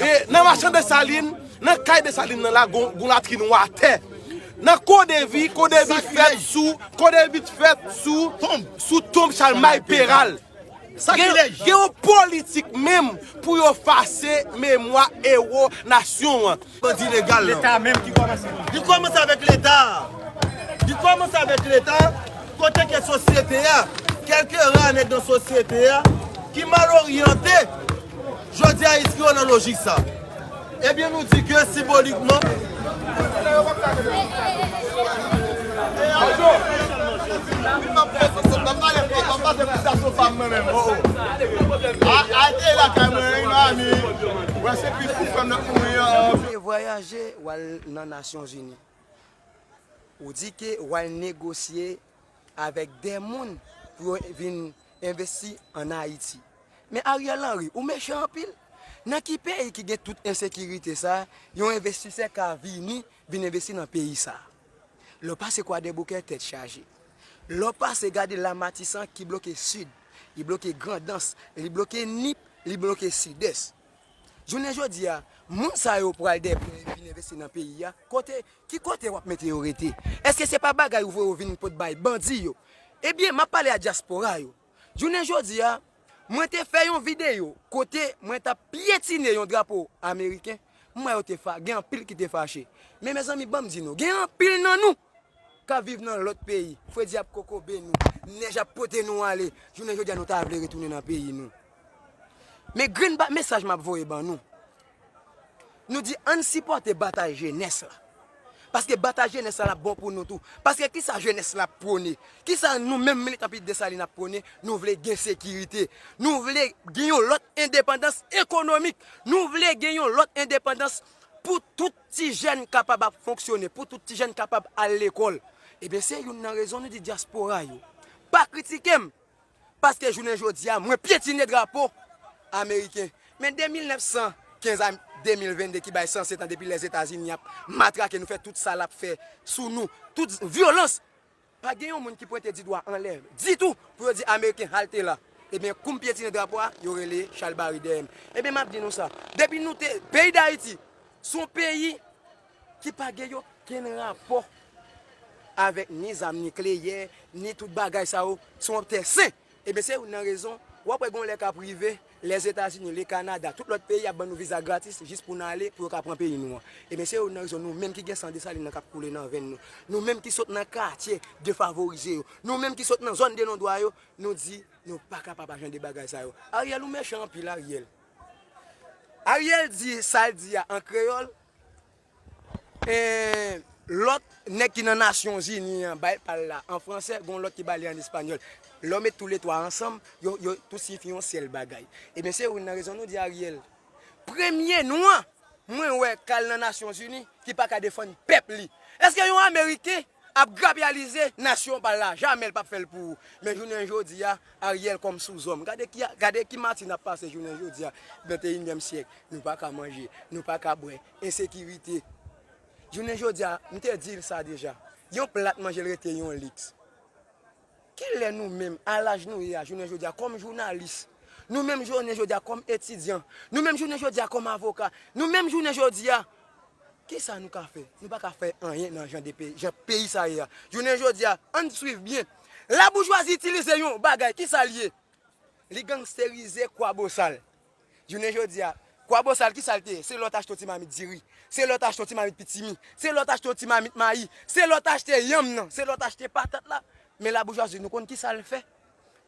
E nan machan Desalin, nan kay Desalin nan la gon latrin watè. Nan Kodevi, Kodevi fèt sou, Kodevi t fèt sou, sou tonb Chalmay Peral. Sakilèj! Gen yon politik menm pou yo fase memwa ewo nasyon an. Bandi legal lan. Leta menm ki kòmanse. Li kòmanse avèk leta a. Li kòmanse avèk leta a, kote ke sosyete a, kèlke ra nèg nan sosyete a, ki mal oryante. Jodi a enskri yo nan lojik sa. Ebyen nou di ke simbolikman. Te vwayaje wal nan Nasyonzini. Ou di ke wal negosye avèk dè moun pou yo vin envesti an ayiti men ariel henry ou mechan anpil nan ki peyi ki gen tout ensekirite sa yon envestisè ka vini vin envesti nan peyi sa lè w pase kwadèboukè tèt chaje lè w pase gade la matisan ki bloke sid li bloke grandans li bloke nip li bloke sidès Jounen jodi a, moun sa yo pral dèpè yo vin envesti nan peyi a, kote, ki kote wap mete yo rete? Eske se pa bagay ou voye yo vin pot bay bandi yo? Ebyen, map pale a dyaspora yo. Jounen jodi a, mwen te fè yon videyo kote mwen tap pyetine yon drapo ameriken, m wè yo te fa, gen anpil ki te fache. Men mezanmi banm di nou, gen anpil nan nou kap viv nan lòt peyi, fredi ap kokobe nou, nèj ap pote nou ale, jounen jodi a nou ta vle retounen nan peyi nou. Men grenn ba mesaj map voye ban nou, nou di ann sipòte batay jenès la, paske batay jenès la lap bon pou nou tou, paske kisa jenès la ap pwone, kisa nou menm militan pi Desalin ap pwone, nou vle gen sekirite, nou vle gen yon lòt endepandans ekonomik, nou vle gen yon lòt endepandans pou tout Ti jèn kapab ap fonksyone pou tout ti jèn kapab al lekòl. Ebyen se youn nan rezon nou di dyaspora yo pa kritike m paske jounen jodi a mwen pyetine drapo ameriken. Men 2915 a 2022 ki bay 107 an depi Lèzetazini ap matrake nou fè tout sa l ap fè sou nou, tout vyolans. Pa gen yon moun ki pwente di dwa anlè ditou pou yo di ameriken halte la. Ebyen koum pyetine drapo a yo rele chalbari dèyèm. Ebyen map di nou sa, depi nou te, peyi dayiti son peyi ki pa gen yo kenn rapò avèk ni zam nikleyè, ni tout bagay sa yo, son tè sen. Ebyen se youn nan rezon wap wè gon lè kap rive Lèzetazini, le Kanada, tout lòt peyi ap ban nou viza gratis jis pou n ale pou yo ka pran peyi nou an. Ebyen se youn nan rezon nou menm ki gen san Desalin nan kap koule nan venn nou, nou menm ki sot nan katye defavorize yo, nou menm ki sot nan zòn de non dwa yo, nou di nou pa kapab a jan de bagay sa yo. Ariel ou mechan anpil Ariel. Ariel di sa l di a an kreyòl. Eehh lòt nèg ki nan nasyon zini an bay pal la an fransè gon lòt ki bali an español lè w met tou le 3 ansanm yo yo tout siyifi yon sèl bagay ebyen se youn nan rezon nou di ariel premye nwa mwen wè kal nan nasyon zini ki paka defann pèp li eske yon ameriken ap grapyalize nasyon pal la jamè l pap fèl pou ou men jounen jodi a ariel kòm sou zòm gade ki gade ki mati nap pase jounen jodi a 21 nyèm syèk nou paka manje nou paka bwè ensekirite. Jounen jodi a, m te di l sa deja, yon plat manje l rete yon liks. Ki lè nou menm, a laj nou ye a jounen jodi a, kòm jounalis, nou menm jounen jodi a kòm etidyan, nou menm jounen jodi a kòm avoka, nou menm jounen jodi a, ki sa nou ka fè? Nou pa ka fè anyen nan jan peyi sa ye a. Jounen jodi a, an n suiv byen, laboujwazi itilize yon bagay, ki sa l ye? Li gangsterize Kwabosal. Jounen jodi a, Kwabosal ki sa l te ye? Se lè w te achte yon ti mamit diri, se lè w te achte yon ti mamit pitimi, se lè w te achte yon ti mamit mayi, se lè w te achte yanm nan, se lè w te achte patat la. Men laboujwazi nou konn ki sa l fè?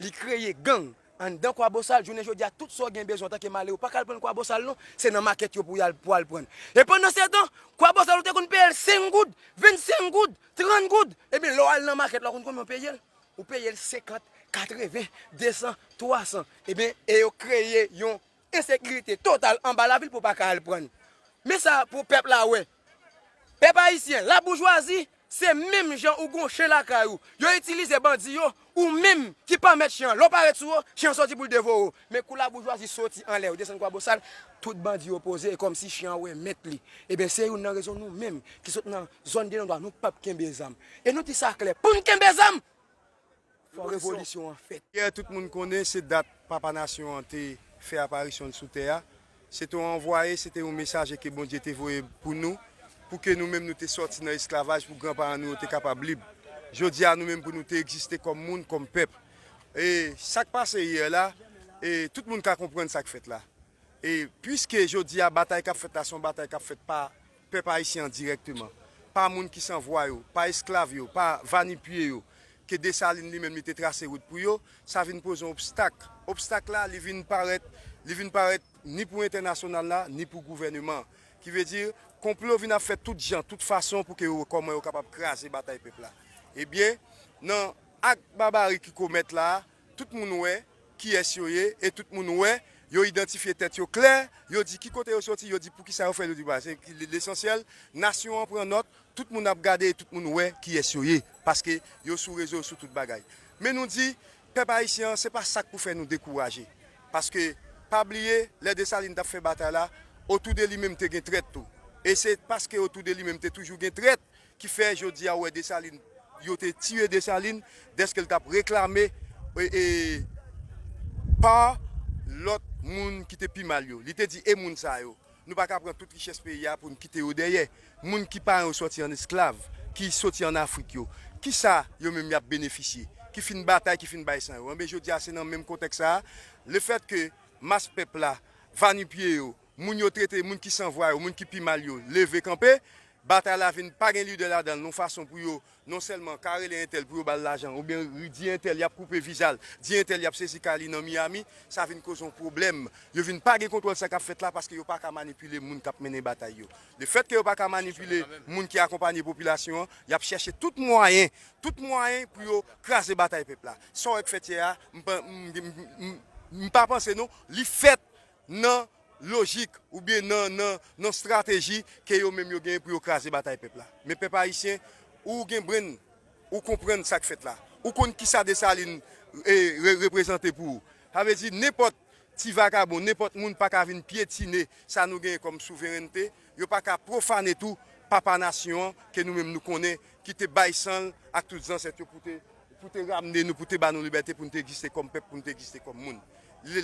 Li kreye gang anndan Kwabosal. Jounen jodi a, tout sa w gen bezwen antanke malere, ou pa ka al pran l Kwabosal non, se nan makèt yo pou y al pou w al pran l. E pandansetan, Kwabosal ou te konn peye l senk goud, vennsenk goud, trant goud. Ebyen, lè w al nan makèt la, ou konn konbyen w peye l? Ou peye l 50, 80, 200, 300, eben e yo kreye yon ensekirite total anba lavil pou pa ka al prann. Men sa pou pèp la wè. Pèp ayisyen, laboujwazi, se menm jan ou gon chen lakay ou, yo itilize bandi yo, ou menm ki pa mèt chen an, lè w parèt sou yo, chen an sòti pou l devore w. Men kou laboujwazi soti anlè yo desann Kwabosal, tout bandi yo poze e kòmsi chen an wè mèt li. Eben se youn nan rezon nou menm ki sot nan zòn Delendwa nou p ap kenbe zam. E nou di sa klè, pou n kenbe zam, fò revolisyon an fèt. Yè tout moun konnen se dat Papa Nasyon an te fè aparisyon l sou tè a. Se te yon anvwaye, se te yon mesaje ke Bondye te voye pou nou, pou ke nou menm nou te sòti nan esklavaj, pou gran paran nou yo te kapab lib. Jodi a nou menm pou nou te egziste kòm moun, kòm pèp. E sak pase yè la, e tout moun ka konprann sak fèt la. E pwiske jodi a batay kap fèt la se yon batay kap fèt pa Pèp Ayisyen an dirèkteman, pa moun ki san vwa yo, pa esklav yo, pa va-nu-pieds yo, ke Desalin li menm li te trase wout pou yo, sa vin poze yon obstak. Obstak la, li vin parèt, li vin parèt ni pou entènasyonal la, ni pou gouvèneman an. Ki vle di, konplo vin ap fèt tout jan, tout fason pou ke yo wè kòman yo kapab kraze batay pèp la. Ebyen, nan ak babari ki komèt la a, Tout moun wè kiyès yo ye e tout moun wè yo idantifye tèt yo klè, yo di ki kote yo soti, yo di pou ki sa yo fè, yo di bwa. Se lesansyèl, nasyon an pran nòt, tout moun ap gade e tout moun wè kiyès yo ye paske yo sou rezo, yo sou tout bagay. Men nou di, pèp ayisyen an, se pa sa k pou fè nou dekouraje paske pa bliye lè Desalin t ap fè batay la, otou de li menm te gen trèt tou e se paske otou de li menm te toujou gen trèt Ki fè jodi a ou wè Desalin, yo te tiye Desalin dèske l t ap reklame pa lòt moun ki te pi mal yo. Li te di e moun sa yo, nou pa ka pran tout richès peyi a pou n kite yo dèyè. Moun ki paran yo sòti an esklav, ki soti an Afrik yo, ki sa yo menm y ap benefisye, ki fin batay, ki fin bay san yo? Enben jodi a se nan menm kontèks sa a, lefètke mas pèp la, vanipye yo, moun yo trete moun ki san vwa yo, moun ki pi mal yo leve kanpe, Batay la vin pa gen lidè ladanl non fason pou yo non sèlman ka rele entèl pou yo bal lajan ou byen di entèl yap koupe vizal di entèl yap sezi kay li nan Miami sa vin koz yon pwoblèm yo vin pa gen kontwòl sa kap fèt la paske yo paka manipile moun kap mennen batay yo le fèt ke yo paka manipile moun ki akonpanye popilasyon an yap chèche tout mwayen tout mwayen pou yo kraze batay pèp la sa w wè k fèt yè a m pa panse non li fèt nan lojik oubyen nan nan nan strateji ke yo menm yo genyen pou yo kraze batay pèp la. Men pèp ayisyen, ou gen brenn, ou konprann sa k fèt la. Ou konn kisa Desalin e re reprezante pou ou. Sa vle di nenpòt ti vagabon, nenpòt moun pa ka vin pyetine sa nou genyen kòm souverènte, yo pa ka pwofane tou papa nasyon an ke nou menm nou konnen ki te bay san l ak tout zansèt yo pou te Pou te ramne nou, pou te ba nou libète pou nou te egziste kòm pèp, pou nou te egziste kòm moun.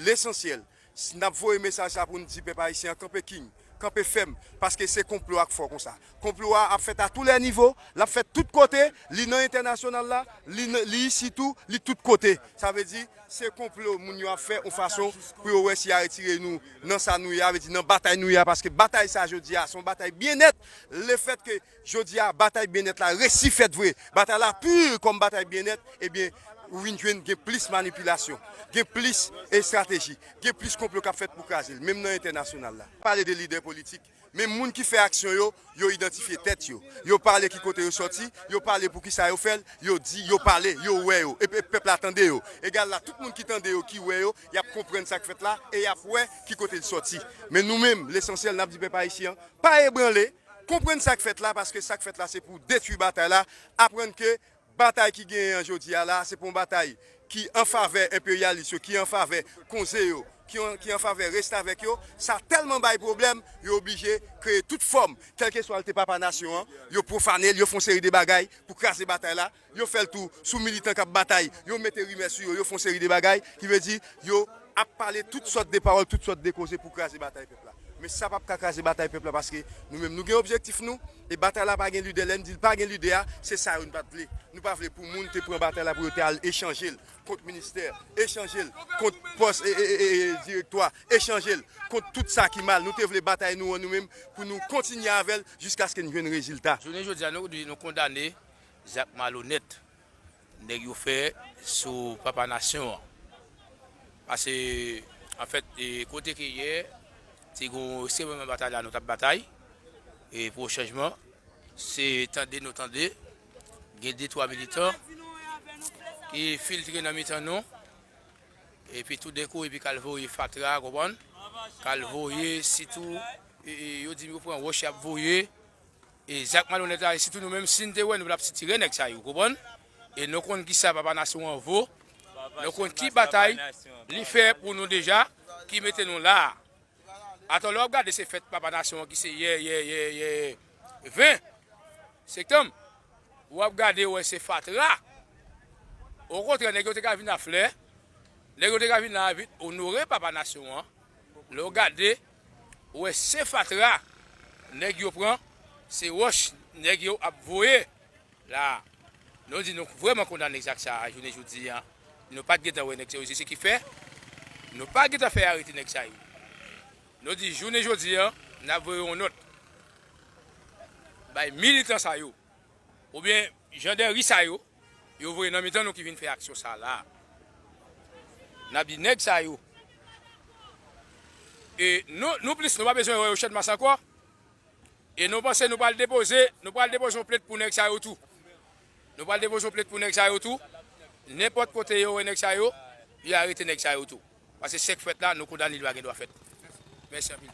Lesansyèl, si n ap voye mesaj sa a pou nou di pèp ayisyen an kanpe king, kanpe fèm, paske se konplo a k fò konsa. Konplo a ap fèt a tou lè nivo, l ap fèt tout kote, li nan entènasyonal la, li isi tou, li tout kote. Sa vle di, se konplo moun yo ap fè yon fason pou yo wè si y a retire nou nan sa nou ye a, vle di nan batay nou ye a, paske batay sa a jodi a, se yon batay byennèt, lefètke. Jodi a batay byennèt la resi fèt vre, batay la pur kòm batay byennèt ebyen ou vin jwenn gen plis manipilasyon, gen plis estrateji, gen plis konplo k ap fèt pou kraze l menm nan entènasyonal la. Pale de lidè politik, men moun ki fè aksyon yo, yo idantifye tèt yo, yo pale ki kote yo sòti, yo pale pou kisa yo fè l, yo di, yo pale, yo wè yo e pèp la tande yo. Egal la tout moun ki tande yo, ki wè yo, y ap konprann sa k fèt la e y ap wè ki kote l sòti. Men nou menm lesansyèl n ap di pèp ayisyen an pa ebranle. Konprann sa k fèt la paske sa k fèt la se pou detwi batay la, aprann ke batay ki genyen an jodi a la a se pa yon batay ki an favè enperyalis yo, ki an favè konze yo, ki an favè restavèk yo, sa tèlman bay pwoblèm yo oblije kreye tout fòm, kèlkeswa l te papa nasyon an, yo pwofane l, yo fè yon seri de bagay pou kraze batay la. Yo fè l tou sou militan k ap batay, yo mete rimè sou yo, yo fè yon seri de bagay, ki vle di yo ap pale tout sòt de pawòl, tout sòt de koze pou kraze batay pèp la. Men sa p ap ka kraze batay pèp la paske nou menm nou gen objektif nou e batay la pa gen lidè. Lè n di l pa gen lidè a, se sa yo n pa t vle. Nou pa vle pou moun te pran batay la pou yo te al echanje l kont ministè, echanje l kont pòs direktwa, echanje l kont tout sa ki mal. Nou te vle batay nou an nou menm pou nou kontinye avè l jiskaske n jwenn rezilta. Jounen jodi a nou di nou kondane Zak malonèt nèg yo fè sou papa nasyon an. Pase anfèt kote ke yè te gon semenman batay la nou tap batay e pou chanjman se tande nou tande gen de twa militan ki filtre nan mitan nou epi tou denkou epi kal voye fatra ou konprann kal voye sitou yo di yo pran wòch yap voye E zak malonèt la e sitou nou menm sin te wè nou tap sitire nèg sa yo ou konprann e nou konn kisa papa nasyon an vo nou konn ki batay li fè pou nou deja ki mete nou la atò lè wap gade se fèt papa nasyon an ki se yè yè yè yè 20 sektanm wap gade wè se fatra o kontrè nèg yo te ka vin a flè nèg yo te ka vin la vin onore papa nasyon an lè w gade Ou wè se fatra nèg yo pran se wòch nèg yo ap voye la nou di nou vrèman kondane zak sa jounen jodi an nou pat gentan wè nèg sa yo se ki fè nou pa gentan fè arete nèg sa yo nou di jounen jodi an nap voye yon nòt bay militan sa yo oubyen jandèri sa yo. Yo voye nan mitan nou ki vin fè aksyon sa la. Nap di nèg sa yo e nou nou plis nou pa bezwen wè yo channmas ankò e nou panse nou pral depoze nou pral depoze yon plent pou nèg sa yo tou nou pral depoze yon plent pou nèg sa yo tou nenpòt kote yo wè nèg sa yo yo arete nèg sa yo tou pase sèk fèt la nou kondane li pa gen dwa fèt mèsi anpil.